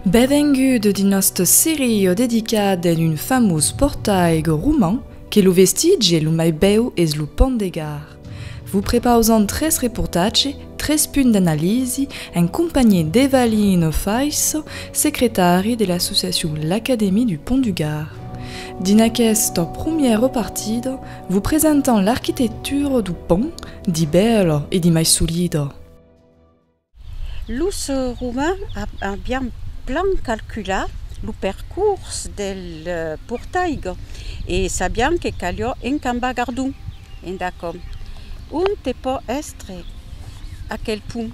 Benvengut dins nòste seria dedicada dins un famós portalh roman que lo vestitge lo mai bèu es lo pont de Gard. Vos prepausam tres reportatges, tres punts d'analisi en companhiá d'Evaline Ofaisso, secretari de l'associacion L'Académie du Pont du Gard. Dins aquesta promièra partida, Vos presentam l'arquitectura du pònt, di bèla e di mai solida. Los Romains avián plan calculat lo percors del portalh e sabián que calió encambar Gardon enda com. Onte pò èstre aquel pont?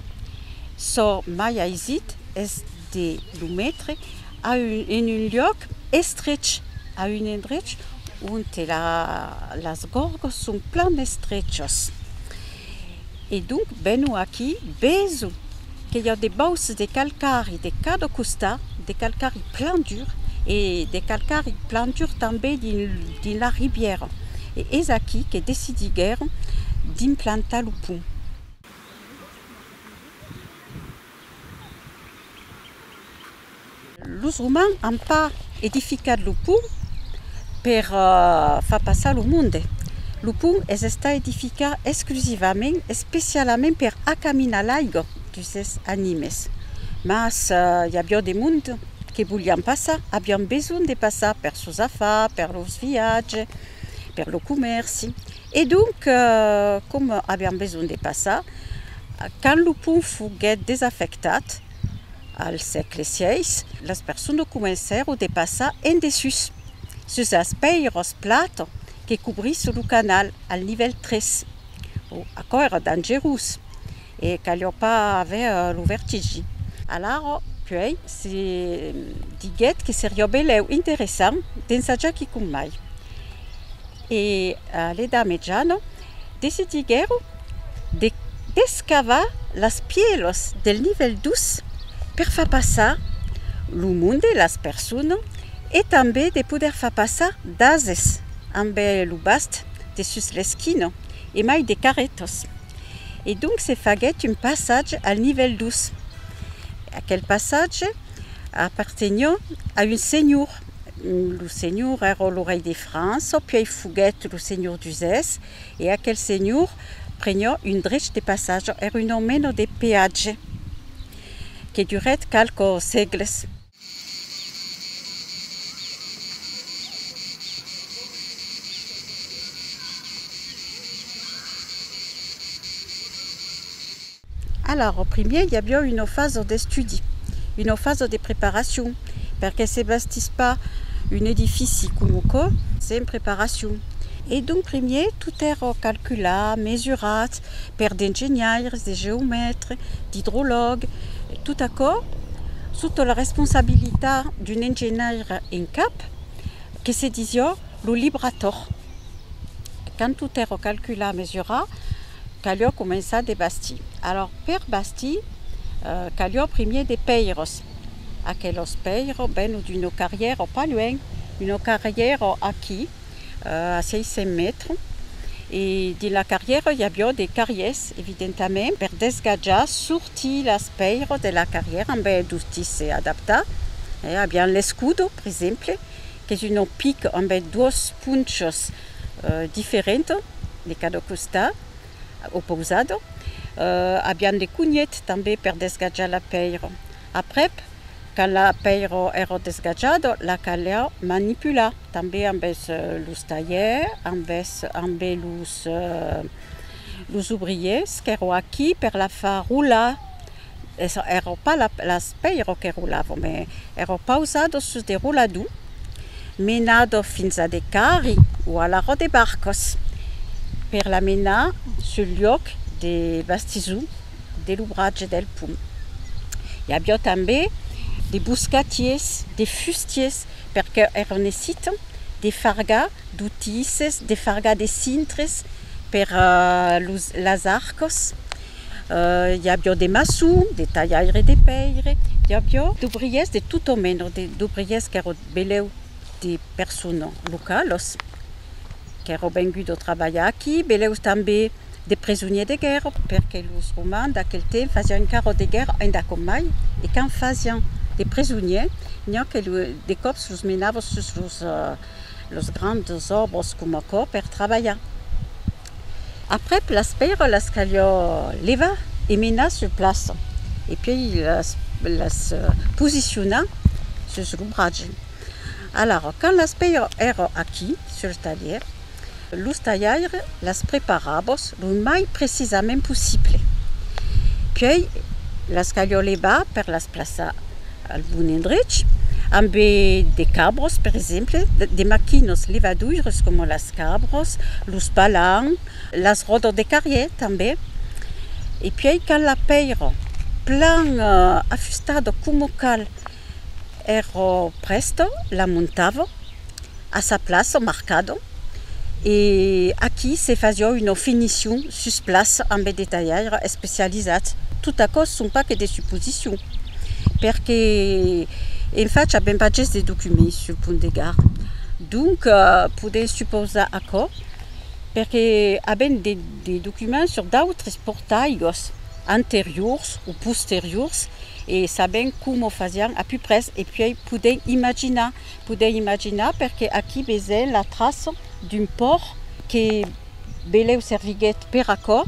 Çò mai aisit es de lo metre a un, en un luòc estrech, a un endrech onte la, las gorgos son plan estrechas. E donc vèno aquí, veso que i a de bauces de calcari de cada costat, de calcari plan dur e de calcari plan dur tanben dins, dins la ribièra. E es aquí que decidiguèron d'implantar lo pont. Los Romans an pas edificat lo pont per far passar lo monde. Lo pont es estat edificat exclusivament, especialament per acaminar l'aiga dus es animes. Mas i aviá de monde que volián passar, avián besonh de passar per sos afars, per los viatges, per lo comèrci. E donc, coma avián besonh de passar, quand lo pont foguèt desafectat, Al sègle xvi, las personas comencèron de passar en dessús, sus las pèiras platas que cobrisson lo canal al nivèl 3. Bon, aquò èra dangerós e caliá pas aver lo vertigi. Alara, puèi, se diguèt que seriá benlèu interessant d'ensajar quicòm mai. e a l'Edà Mejana decidiguèron de descavar las pièlos del nivèl dus per far passar lo monde, las personas e tanben de poder far passar d'ases amb lo bast de sus l'esquina e mai de carretas. E donc se faguèt un passatge al nivèl dus. Aquel passatge apartenhó a un senhor. Lo senhor èra lo rei de França, puèi foguèt lo senhor d'Uzès, e aquel senhor prenió un drech de passatge, èra una mena de peatge que durèt qualques sègles. Alara, au primièr i aviá una fasa d'estudi, una fasa de preparacion, perqué se bastís pas un edifici coma aquò sen preparacion. E donc primièr tot èra calculat, mesurat per d'engenhaires, de geomètres, d'idrològues, tot aquò sota la responsabilitat d'un engenhaire en cap que se disiá lo librator. quand tot èro calcular, mesurar, calió començar de bastir. Alòr, per bastir, calió primier de pèiros. Aquelos pèiros vèno d'uno carrièro pas luènh, uno carrièro aquí, a 600 mètres, e dins la carrièro i avió de carriers, evidentament, per desgatjar, sortir las pèiros de la carrièra, ben, dotís se adaptar, avián l'escudo, per exemple, qu'es un òpic ambe duos ponchos diferents de cada costat, opousado, a vian de conilhet tanbe per desgatjar la pèir. Aprèp, quand la pèir èra desgatjada, la caliá manipular tanbe ambe los talhèrs, ambe los obriers qu'èra aquí per la far rolar. es ero pas la l'aspeiro que rolavo me ero pausado sus de roladou menado fins a de carri o a l'aro de barcos per la menar sul lloc de bastisou de l'obratge del pum i avió tanbe de boscatiers de fustiers per que ero necito de fargar d'otises de fargar de cintres per los las arcos I avió de maçon, de talhaire de pèire, i avió d'obriers de tot o meno, d'obriers qu'èron beleu de persona localos qu'èron venguts o trabalhar aquí, beleu tanbé de presoniers de guèrra, perque los romans d'aquel temps fasián encara o de guèrra, endà com mai, e quand fasián de presoniers, n'i a que de còps los menava sus los grands òbres coma aquò per trabalhar. Aprèp las pèirolas calió levar e menar sur plaça e puèi las posicionar sus lo bratge. Alara, quand las pèiras èra aquí sur talhièr, los talhaires las preparabos lo mai precisament possible. Puèi las calió levar per las plaçar al bon endrech, ambe de cabros per exemple, de maquinos levaduires coma las cabros, los balans, las ròdas de carrièr tanben, e puèi quand la pèira plan afustada coma cal èra prèsta, la montava a sa plaça au mercado e aquí se fasió una finicion sus plaça ambe de talhaires especializats, tot aquò son pas que de suposicions perque en fach avèm pas ges de documents sul pont de Gard donc podèm supausar aquò perque avèm de documents sur d'autres portalhos anteriors o posteriors e sabèm coma o fasián a puprès e puèi podèm imaginar Podèi imaginar perque aquí vesèm la traça d'un pòrt que belèu serviguèt per aquò,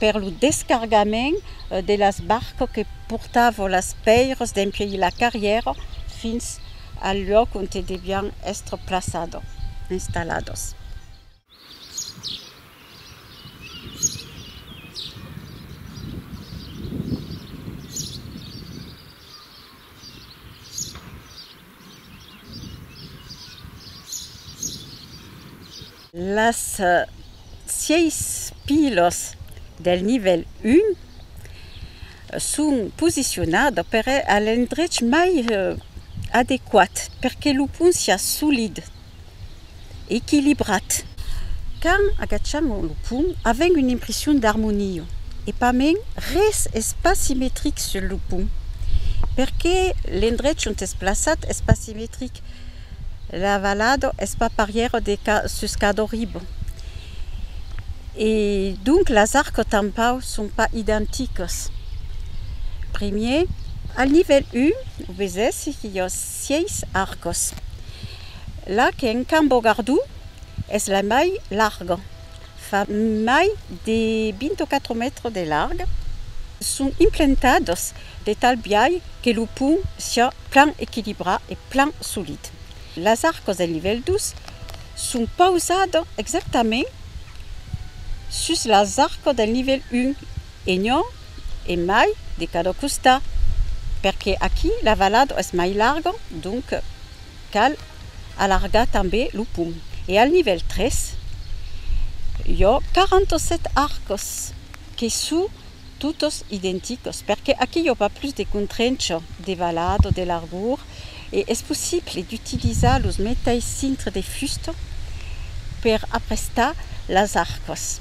per lo descargament de las barcas que portavan las pèiras dempuèi la carrièra fins al luòc ont devián èstre plaçadas, installadas. Las sièis pilos del nivèl 1 son posicionadas per a l'endrech mai adequat per que lo pont siá solid. equilibrat. Quand agacham lo pont, avèm una impression d'armonia, e pas mens, res es pas simetric sul lo pont, perqué l'endrech ont es plaçat es pas simetric, la valada es pas parièra de sus cada riba, e donc las arcas tanpau son pas identicas. Primièr, al nivèl 1, o vesèssi que i a. Sièis arcos. La que en cambo gardu es la mai larga. Fa mai de 24 mètres de larg. Son implentados de tal biai que lo pont siá plan equilibrat e plan solid. Las arcos del nivèl 2 son pausados exactament sus las arcos del nivèl 1 E non e mai de cada costat, perque aquí la valada es mai larga, donc cal alargar tanbe lo pum. E al nivèl 3, i a 47 arcas que sou totas identicas, perque aquí i a pas plus de contrencha de valada, de largur, e es possible d'utilizar los meteis cintres de fusta per aprestar las arcas.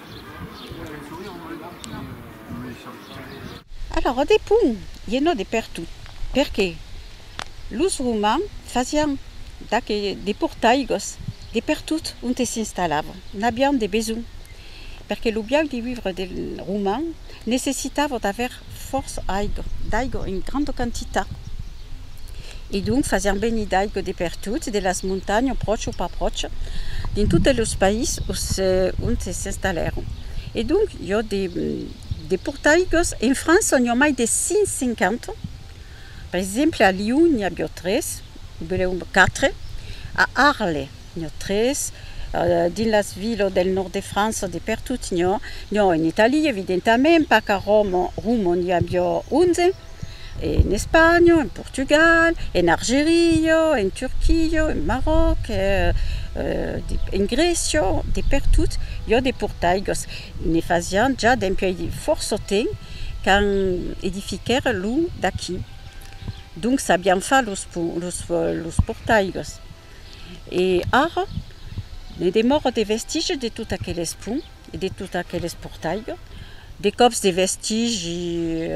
Alara de pont ie no de pertot, perqué los romans fasián d'aqué de portaigos de pertot onte s'installavan, n'avián de besonh, perqué lo biaud de vivre del roman necessitava d'aver fòrça aigo, d'aigo en granda quantitat, e donc fasián venir d'aigo de pertot, de las montanhas, apròche o pas apròche, dins totes los país ont s'installèron. E donc, jo de, de portaigos, en França n'i a mai de 150, per exemple, a Lion n'i avió tres, Belèu quatre, a Arles, Nho 3, Dins las vilas del nòrd de França de pertot nho, nho en Italia evidentament, pas qu'a Roma, Roma n'i avió 11, en Espanha, en Portugal, en Argeria, en Turquia, en Maròc, en Grècia, de pertot iò de portaigos, ne fasián ja dempuèi fòrça temps quand edifiquèron lo d'aquí. Donc sabián far los portaigos. E ara, ne demòra de vestigi de tot aqueles pont e de tot aqueles portalh, de còps de vestigi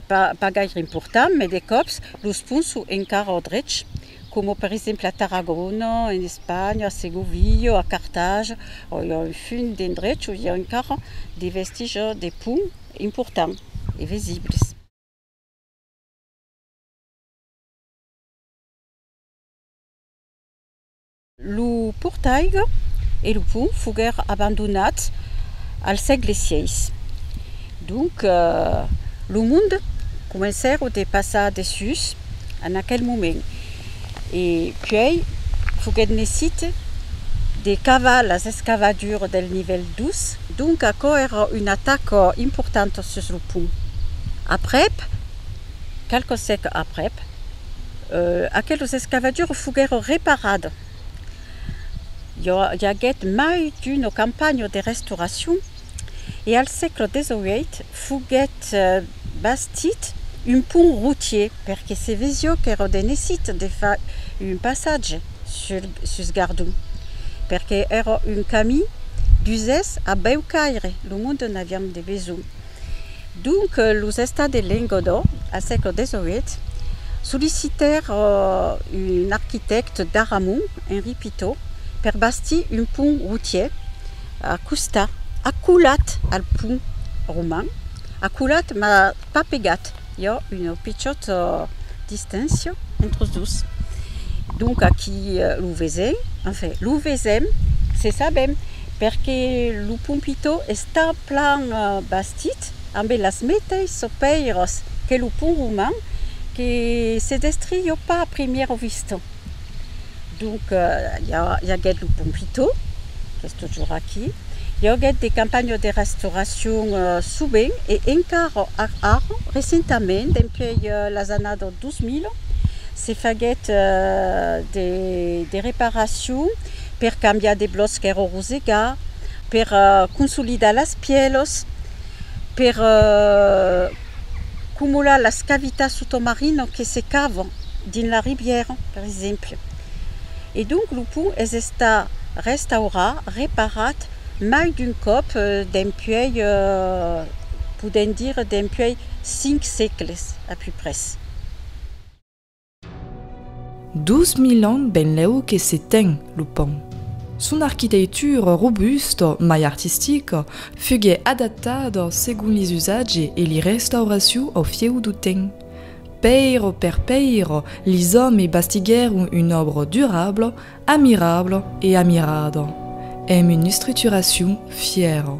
pas gaire important, mès de còps los ponts son encara au drech, coma per exemple a Tarragona, en Espanha, a Segovia, a Cartagena, o i a un fum d'endrechs on i a encara de vestigi de ponts importants e visibles. Lo portalh e lo pont foguèr abandonats al sègle vi. Donc lo mond comencèr de passar dessús en aquel moment e puèi foguèt nesit de cavar las escavadures del nivèl dos, donc aquò èra un atac important sus lo pont. Aprèp. Qualques sècles aprèp, aqueles escavatures foguèron reparades. I aguèt mai d'una campanha de restauracion e al sègle XVIII foguèt bastit un pont routier perque se vesiá qu'èra de necite de far un passatge sus Gardon perque èra un camin d'usès a Bèucaire, lo monde n'avián de besonh. Donc los estats de Lengodò al sègle XVIII sollicitèr un arquitècte d'Aramon, Henri Pitot, per bastir un pont routier a costat, acolat al pont roman, acolat mas pas pegat. i a una pichòta distància entre los dos. Donc aquí lo vesèm, enfin lo vesèm, se sabèm, perque lo Pompitò està plan bastit ambe las meteissas pèiras que lo pont roman que se destrió pas a primièra vista. Donc, i aguèt lo Pompito, qu'es totjorn aquí. I aguèt de campanhas de restauracion sovent, e encara ara, recentament, dempuèi las annadas 2000, se faguèt de reparacion per cambiar de blòcs qu'èra rosegat, per consolidar las pièlas, per... Cumular las cavitats sotomarino que se cavan dins la ribièra, per exemple. E donc lo pont es estat restaurat, reparat mai d'un còp dempuèi, podèm dire dempuèi cinc sègles a peu près. Dos mil ans benlèu que se ten lo pònt. Son arquiteitura robusta mai artistica fuguèt adaptada segon li usatge e li restauracion au fieu du temps. Pèira per pèira, lis òmes bastiguèron un òbra durabla, amirabla e amirada, emb un estrituracion fièra.